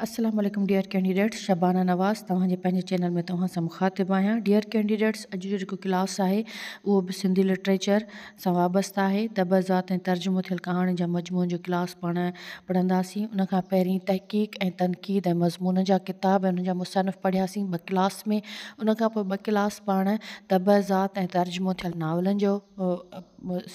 السلام عليڪم dear candidates Shabana Nawaz توهان جي پنهنجي چينل ۾ توهان سان مخاطب آهيان ڊيئر ڪينڊيڊيٽس اڄ جو جيڪو ڪلاس آهي اهو به سنڌي لٽريچر سان وابسته آهي طبع ذات ۽ ترجمو ٿيل ڪهاڻين جا مجموعن جو ڪلاس پاڻ پڙهنداسين ان کان پهرين تحقيق ۽ تنقيد ۽ مضمون جا ڪتاب ۽ انهن جا مصنف پڙهياسين ٻه ڪلاس ۾ ان کان پوء ٻه ڪلاس پاڻ طبع ذات ۽ ترجمو ٿيل ناولن جو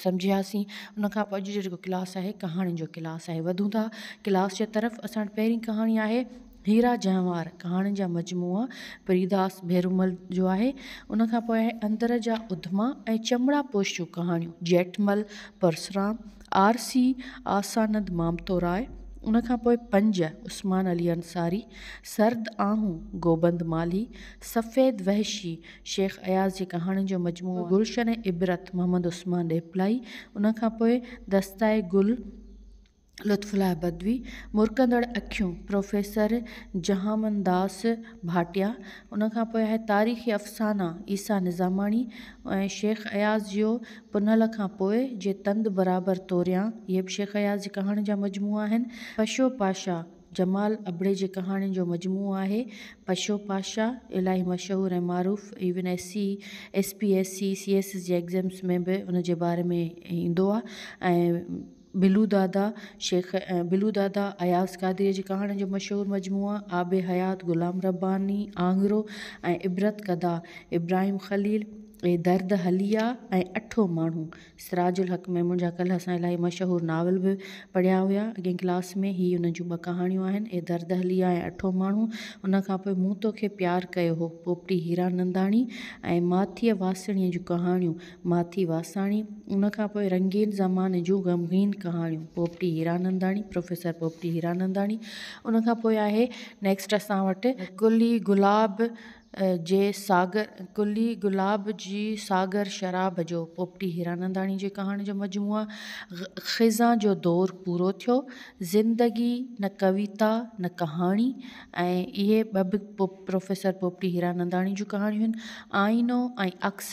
سمجهياسين ان کان پوء اڄ جو جيڪو ڪلاس آهي ڪهاڻين جو ڪلاس آهي وڌون ٿا ڪلاس جي طرف اسان وٽ پهرين ڪهاڻي آهي هيرا جهنوار ڪهاڻين جا مجموعا پريداس ڀيرومل جو آهي ان کان پوء آهي اندر جا اڌما ۽ چمڙا پوش جون ڪهاڻيون جيٺمل پرسرام آرسي آسانند مامتوراء ان کان پوء پنج عثمان علي انصاري سرد آهون گوبند مالهي سفيد وحشي شيخ اياز جي ڪهاڻين جو مجموعو گلشن عبرت محمد عثمان ڏيپلائي، ان کان پوء دستاء گل لطف الله بدوي، مرڪندڙ اکيون پروفيسر جهامنداس ڀاٽيا، ان کان پوء آهي تاريخي افسانا عيسيٰ نظاماڻي ۽ شيخ اياز جيو پنهل کان پوء جي تند برابر توريان اهي به شيخ اياز جي ڪهاڻين جا مجموعا آهن، پشو پاشا جمال ابڙي جي ڪهاڻين جو مجموعو آهي. پشو پاشا الاهي مشهور ۽ معروف ايون S C, S P S C, C S S جي ايگزيمس ۾ به ان جي باري ۾ ايندو آهي ۽ بلو دادا شيخ بلو دادا اياز قادري جي ڪهاڻين جو مشهور مجموعو آب حيات غلام رباني آڱرو ۽ عبرت ڪدا ابراهيم خليل ۽ درد حليه ۽ اٺو ماڻهو. سراج الحق ميمڻ جا ڪلهه اسان الاهي مشهور ناول به پڙهيا هيا اڳين ڪلاس ۾ هي ان جون ٻه ڪهاڻيون آهن اي درد هليا ۽ اٺون ماڻهو ان کان پوء مون توکي پيار ڪيو هو پوپٽي هيراننداڻي ۽ ماٿيء واسڻيء جون ڪهاڻيون ماٿي واساڻي ان کان پوء رنگين زماني جون غمگين ڪهاڻيون پوپٽي هيراننداڻي پروفيسر پوپٽي هيراننداڻي ان کان پوء آهي نيڪسٽ اسان وٽ گلي گلاب جي ساگر گلي گلاب جي ساگر شراب جو پوپٽي هيراننداڻي جي ڪهاڻين جو مجموعو خزان جو دور پورو ٿيو زندگي نه ڪويتا نه ڪهاڻي ۽ اهي ٻه به پروفيسر پوپٽي هيراننداڻي جون ڪهاڻيون آئينو ۽ عڪس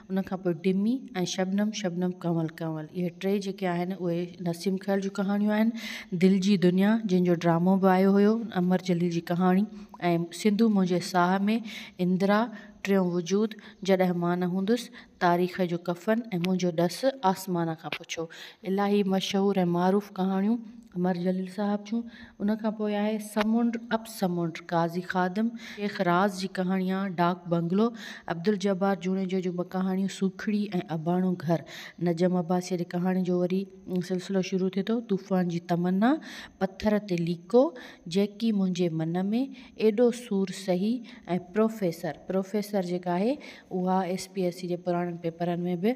ان کان پوء ڊمي ۽ شبنم شبنم ڪنول ڪنول اهي ٽي جيڪي آهن اهي نسيم خيل جون ڪهاڻيون آهن دل جي دنيا جنهن جو ڊرامو به آيو هيو امر جليل جي ڪهاڻي ۽ سنڌو منهنجي ساهه ۾ اندرا ٽيون وجود جڏهن مان نه هوندس تاريخ جو ڪفن ۽ منهنجو ڏس آسمان کان پڇو الاهي مشهور ۽ معروف ڪهاڻيون امر جليل صاحب جون ان کان پوء آهي سمنڊ اپ سمنڊ، قاضي خادم، شيخ راز جي ڪهاڻيان، ڊاڪ بنگلو، عبدالجبار جوڻيجو جون ٻه ڪهاڻيون سوکڙي ۽ اباڻو گهر، نجم عباسيء جي ڪهاڻين جو وري سلسلو شروع ٿئي ٿو، طوفان جي تمنا، پٿر تي ليڪو، جيڪي منهنجي من ۾، ايڏو سور سهي ۽ پروفيسر، Professor، جيڪا آهي اها ايس پي ايس سي جي پراڻن پيپرن ۾ به.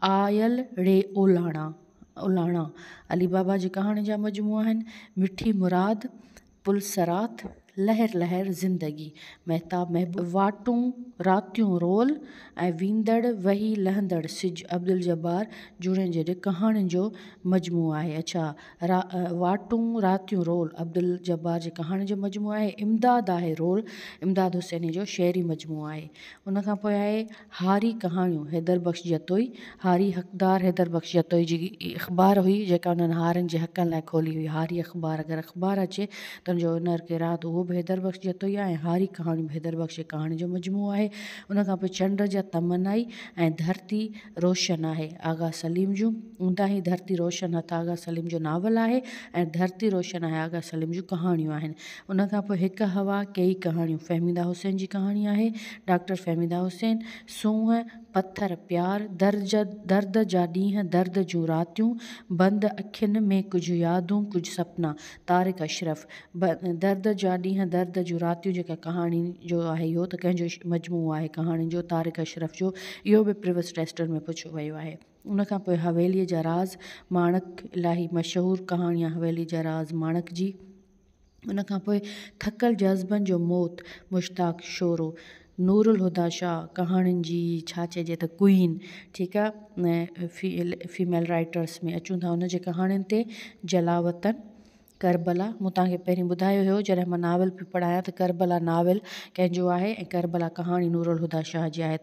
آيل ڙي اولاڻا اولاڻا علي بابا جي ڪهاڻين جا مجموعا آهن مٺي مراد پل صراط لهر لهر زندگي مهتاب محبوب واٽون راتيون رول ۽ ويندڙ وهي لهندڙ سج عبدالجبار جوڻيجي جي ڪهاڻين جو مجموعو آهي اڇا را واٽون راتيون رول عبدالجبار جي ڪهاڻين جو مجموعو آهي امداد آهي رول امداد حسيني جو شعري مجموعو آهي ان کان پوء آهي هاري ڪهاڻيون حيدر بخش جتوئي، هاري حقدار حيدر بخش جتوئي جي اخبار هئي جيڪا انهن هارين جي حقن لاء کولي هئي. هاري اخبار اگر اخبار اچي ته ان جو اونر ڪير آهي ته اهو به حيدر بخش جتوئي آهي ۽ هاري ڪهاڻيون به حيدر بخش جي ڪهاڻين جو مجموعو آهي. ان کان پوء چنڊ جا تمنا ئي ۽ ڌرتي روشن آهي آغا سليم جون اونداهي ڌرتي روشن هٿ آغا سليم جو ناول آهي ۽ ڌرتي روشن آهي آغا سليم جون ڪهاڻيون آهن. ان کان پوء هڪ هوا ڪيئي ڪهاڻيون، فهميده حسين جي ڪهاڻي آهي، ڊاڪٽر فهميده حسين، سونهن، پٿر، پيار، درد جا ڏينهن، درد جون راتيون، بند اکين ۾ ڪجهه يادون، ڪجهه سپنا، طارق اشرف، درد جا ڏينهن، درد جون راتيون جيڪا ڪهاڻي جو آهي اهو ته ڪنهن جو مجموعو آهي ڪهاڻين جو طارق اشرف جو اهو به پريوس ٽيسٽن ۾ پڇيو ويو آهي. ان کان پوء حويليء جا راز، ماڻڪ، الاهي مشهور ڪهاڻي آهي حويليء جا راز ماڻڪ جي، ان کان پوء ٿڪل جذبن جو موت مشتاق شورو نورالهديٰ شاهه ڪهاڻين جي ڇا چئجي ته ڪوئين ٺيڪ آ فيل فيميل رائٽرس ۾ اچون ٿا ان جي ڪهاڻين تي جلاوطن ڪربلا مون تهان کي پهرين ٻڌايو هيو جڏهن مان ناول پئي پڙهايان ته ڪربلا ناول ڪنهنجو آهي ۽ ڪربلا ڪهاڻي نورالهديٰ شاهه جي آهي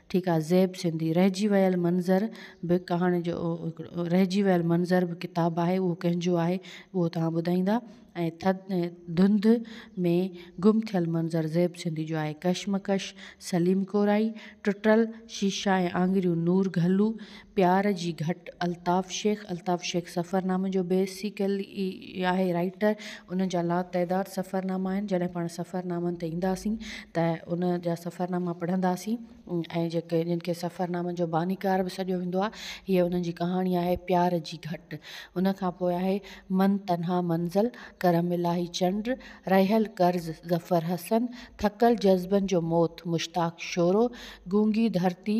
ٺيڪ آ زيب سنڌي. رهجي ويل منظر به ڪهاڻي جو رهجي ويل منظر به ڪتاب آهي اهو ڪنهن جو آهي اهو توهان ٻڌائيندا ۽ ٿڌ ڌنڌ ۾ گم ٿيل منظر زيب سنڌي جو آهي ڪشمڪش سليم ڪورائي ٽٽل شيشا ۽ آڱريون نور گهلو پيار جي گهٽ، الطاف شيخ، الطاف شيخ سفرنامي جو بيسيڪل ئي آهي رائيٽر، ان جا لاتعداد سفرناما آهن، جڏهن پاڻ سفرنامن تي اينداسين ته ان جا سفرناما پڙهنداسين ۽ جيڪي جن کي سفرنامن جو بانيڪار به سڏيو ويندو آهي، هيء انهن جي ڪهاڻي آهي پيار جي گهٽ، ان کان پوء آهي من تنها منزل، ڪرم الاهي چنڊ، رهيل قرض، ظفر حسن، ٿڪل جذبن جو موت، مشتاق شورو، گونگي ڌرتي،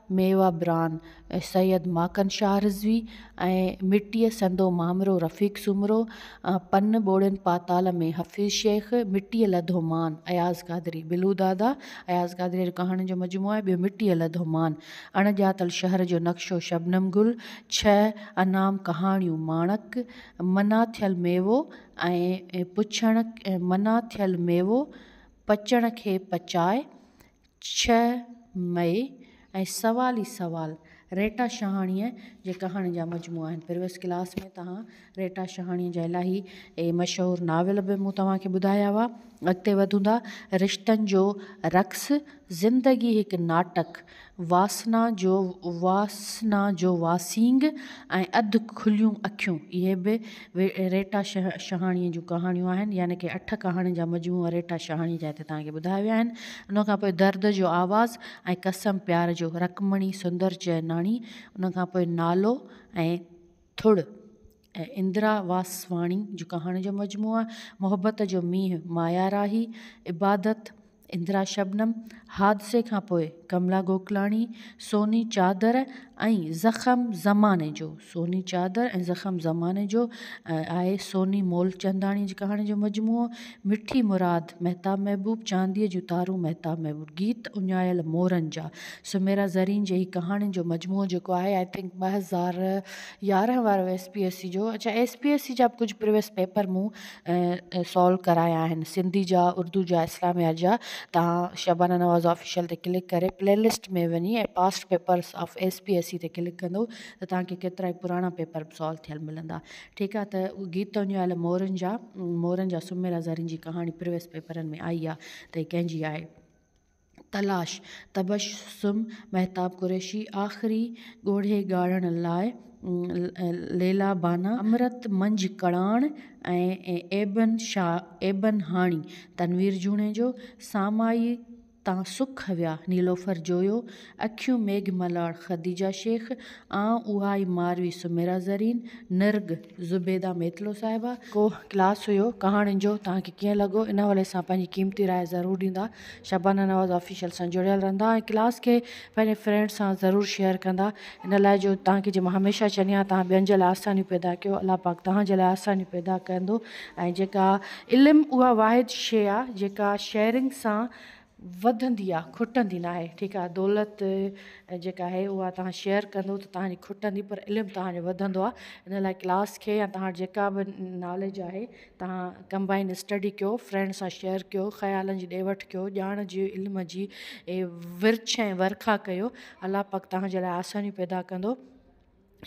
ميوا بران، سيد ماڪن شاهه رضوي ۽ مٽيء سندو مامرو رفيق سومرو، پن ٻوڙين پاتال ۾ حفيظ شيخ، مٽيء لڌو مان، اياز قادري، بلو دادا، اياز قادريء جو ڪهاڻين جو مجموعو آهي، ٻيو مٽيء لڌو مان، اڻ ڄاتل شهر جو نقشو، شبنم گل، ڇهه انعام ڪهاڻيون، ماڻڪ، منع ٿيل ميوو ۽ پڇڻ منع ٿيل ميوو، پچڻ کي پچاء، ڇهه مئي ۽ سوال ئي سوال ريٽا شهاڻيء جي ڪهاڻين جا مجموعا آهن پريوئس ڪلاس ۾ توهان ريٽا شهاڻيء جا الاهي مشهور ناول به مون توهان کي ٻڌايا هئا اڳتي وڌون ٿا رشتن جو رقص زندگي هڪ ناٽڪ واسنا جو واسنا جو واسينگ ۽ اڌ کليون اکيون اهي به ريٽا شهاڻيء جون ڪهاڻيون آهن يعني ڪي اٺ ڪهاڻين جا مجموعا ريٽا شهاڻيء جا هتي توهان کي ٻڌايا ويا آهن ان کان پوء درد جو آواز ۽ قسم پيار جو رڪمڻي سندر چئناڻي ان کان پوء نالو ۽ ٿڙ ۽ اندرا واسواڻي جون ڪهاڻين جو مجموعا محبت جو مينهن مايا راهي عبادت اندرا شبنم حادثي کانپوء ڪملا گوڪلاڻي سوني چادر ۽ زخم زماني جو سوني چادر ۽ زخم زماني جو آهي سوني مولچنداڻي جي ڪهاڻين جو مجموعو مٺي مراد مهتاب محبوب چانديء جون تارون مهتاب محبوب گيت اڃايل مورن جا سميرا زرين جي هي ڪهاڻين جو مجموعو جيڪو آهي آء ٿنڪ ٻه هزار يارهن وارو ايس پي ايس سي جو اڇا ايس پي ايس سي جا به ڪجهه پريويس پيپر مون سالو ڪرايا آهن سنڌي جا اردو جا اسلاميات جا تان شبانه نواز آفيشل تي ڪلڪ ڪري پلي لسٽ ۾ وڃي ۽ past papers of S P S C تي ڪلڪ ڪندو ته تانکي ڪيترائي پراڻا پيپر به سالو ٿيل ملندا ٺيڪ آهي ته گيت اڃايل مورن جا مورن جا سميرا زرين جي ڪهاڻي پريويس پيپرن ۾ آئي آهي ته هي ڪنهنجي آهي تلاش، تبسم مهتاب قريشي، آخري ڳوڙهي ڳاڙڻ لاء ليلا بانه، امرت منجهه ڪڙاڻ ۽ ايبن هاڻي، تنوير جوڻيجو، سامائي تان سک ويا، نيلوفر جويو، اکيون ميگهه ملاڙ، خديجه شيخ، آئون اها ئي ماروي سميرا زرين، نرڳ، زبيده ميتلو صاحبه. ڪو ڪلاس هيو ڪهاڻين جو، توهان کي ڪيئن لڳو؟ ان حوالي سان پنهنجي قيمتي راء ضرور ڏيندا. شبانه نواز آفيشل سان جڙيل رھندا ۽ ڪلاس کي پنھنجي فرينڊس سان ضرور شيئر ڪندا ان لاء جو تھان کي جي مان ھميشه چھندي آھيان تھان ٻين جي لاء آسانيون پيدا ڪيو الله پاڪ تھان جي لاء آسانيون پيدا ڪندو ۽ جيڪا علم اھا واحد شيء آ جيڪا شيئرنگ سان وڌندي آ کٽندي ناھي ٺيڪ آ دولت جيڪا آھي اھا تھان شيئر ڪندو ته تھان جي کٽندي پر علم تھان جو وڌندو آ ان لاء ڪلاس کي يا تھان وٽ جيڪا به ناليج آھي تهان ڪمبائن اسٽڊي ڪيو، فرينڊ سان شيئر ڪيو، خيالن جي ڏي وٺ ڪيو، ڄاڻ جي علم جي ورڇ ۽ ورکا ڪيو. الله پاڪ تهان جي لاء آسانيون پيدا ڪندو.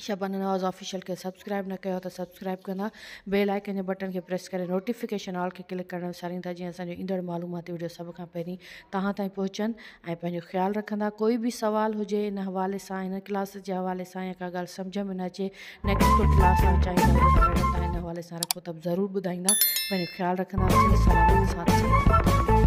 شبانه نواز آفيشل کي سبسڪرائب نه ڪيو آهي ته سبسڪرائب ڪندا بيل آئيڪن جي بٽن کي پريس ڪري نوٽيفڪيشن آل کي ڪلڪ ڪرڻ وسارين ٿا جيئن اسان جون ايندڙ معلوماتي وڊيو سڀ کان پهرين توهان تائين پهچن ۽ پنهنجو خيال رکندا ڪوئي به سوال هجي ان حوالي سان هن ڪلاس جي حوالي سان يا ڪا ڳالهه سمجهه ۾ نه اچي نيڪسٽ ڪو ڪلاس آئون چاهيندو آهيان جيڪا ميڊم تان هن حوالي سان رکو ته به ضرور ٻڌائيندا پنهنجو خيال رکندا سلامت سان